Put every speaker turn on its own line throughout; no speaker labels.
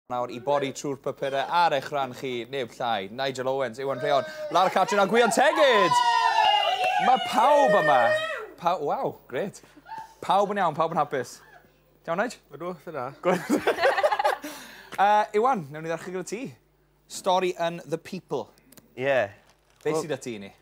nawr i bori trwy'r papurau ar eich rhan chi, neb llai, Nigel Owens, Iwan Rheon, Lara Catrin a Gwion Tegid! Mae pawb yma. Pa, waw, gret. Pawb yn iawn, pawb yn hapus. Iawn, Nige? Ydw, lle da. uh, Iwan, newn ni ddechrau gyda ti. Stori yn The People. Ie. Yeah.
Be well, sydd â ti
i ni?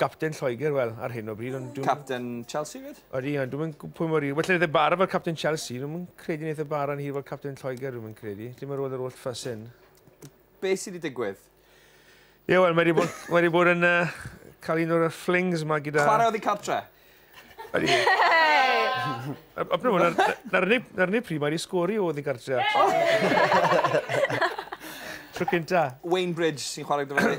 Capten Lloegr, wel, ar hyn o bryd, ond... Capten
Chelsea, fyd? Odi, ond dwi'n mynd pwy
mor hir. Well, wneud e bara fel capten Chelsea. Dwi'n mynd credu wneud e bara yn hir fel capten Lloegr, dwi'n mynd credu. Dim ar ôl yr oll ffas hyn. Be
sydd wedi digwydd? Ie, yeah, wel,
mae wedi bod, mae wedi bod yn uh, cael un o'r flings yma gyda... Chwarae oedd i cartre?
Ydy.
Apnwm, na'r unig pryd mae wedi sgori oedd i gartre. Tro cynta. Wayne Bridge sy'n
chwarae gyda fe.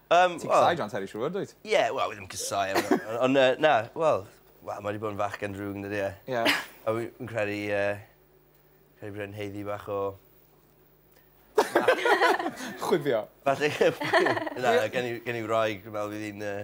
Yym, Ti'n casau John Terry siŵr, dwyt? Ie, wel, fi ddim yn casau
e. Ond yy, na, wel, wel, mae 'di bod yn fachgen drwg yndydi e? Ie. A wi fi'n
credu
yy credu bod e'n haeddu bach o...
Chwifio. Falle
na gen i gen i wraig dwi me'wl fydd 'i'n yy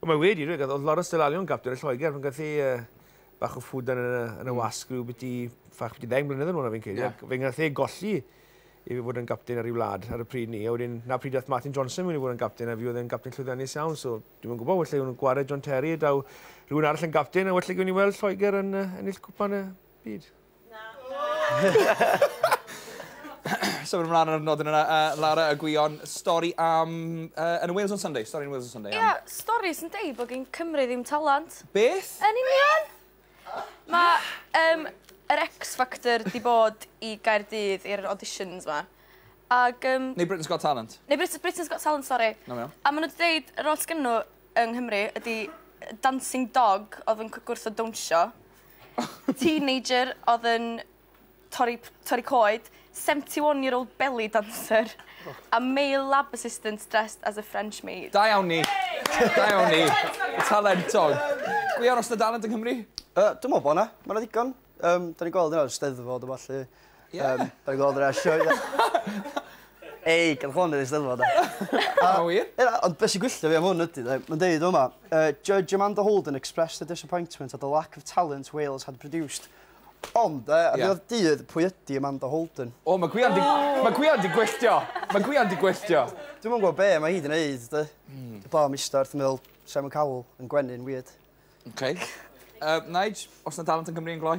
Wel mae wedi
dweud oedd Lawrence de Lalion gapten y Lloegr pan gath ei uh, bach o ffwdan yn y, yn y mm. wasg rhyw beth i ffach beth i ddeng mlynedd yn ôl na fi'n credu. Yeah. Fe gath ei golli i fod yn gapten ar ei wlad ar y pryd ni. A wedyn, na pryd oedd Martin Johnson wedi bod yn gapten a fi oedd yn gapten llwyddiannus iawn. So, dwi'n yn gwybod, felly nhw'n gwared John Terry, daw rhywun arall yn gapten a felly gwni weld Lloegr yn uh, ennill cwpan y byd.
Na. so mae'n ymlaen ar y nodyn yna. Uh, Lara, y gwion, stori am... Uh, yn y Wales on Sunday, stori yn Wales on Sunday. Ie, yeah, stori sy'n deud
bod gen Cymru ddim talant. Beth? Yn union! Mae um, yr X Factor di bod i Gaerdydd i'r auditions ma. Ag, um, Neu
Britain's Got Talent. Neu Brit Britain's Got Talent,
sori. No, no. A maen nhw wedi dweud,
yr oll
gynnw yng Nghymru ydy Dancing Dog oedd yn gwrth o dawnsio. Teenager odd yn torri p- torri coed. Seventy one year old belly dancer. A male lab assistant dressed as a French maid. Da
iawn
ni.
Da iawn ni. Talentog. Pwy arall sy 'da dalent yng Nghymru? Yy dwi me'wl bo' 'na.
Ma' 'na ddigon. Yym 'dan ni'n gweld hynna ar y Steddfod a ballu. Ie. Yn ôl dra sioe da. Ei gad hwn yn y Steddfod de. A ma'
wir. Ie ond be' sy gwylltio fi
am hwn ydi de ma'n deud fama yy judge Amanda Holden expressed her disappointment at the lack of talent Wales had produced. Ond yy a dyma dydd pwy ydi Amanda Holden. O ma' Gwion 'di
ma' Gwion 'di gwylltio. Ma' Gwion 'di gwylltio. Dwi'm yn gwbo be' ma'
hi 'di neud de. Hmm. Dwi bron ista wrth me'wl Simon Cowell yn gwenyn wierd. Oce.
Yy Nige os 'na dalent yn Cymru yn gloi?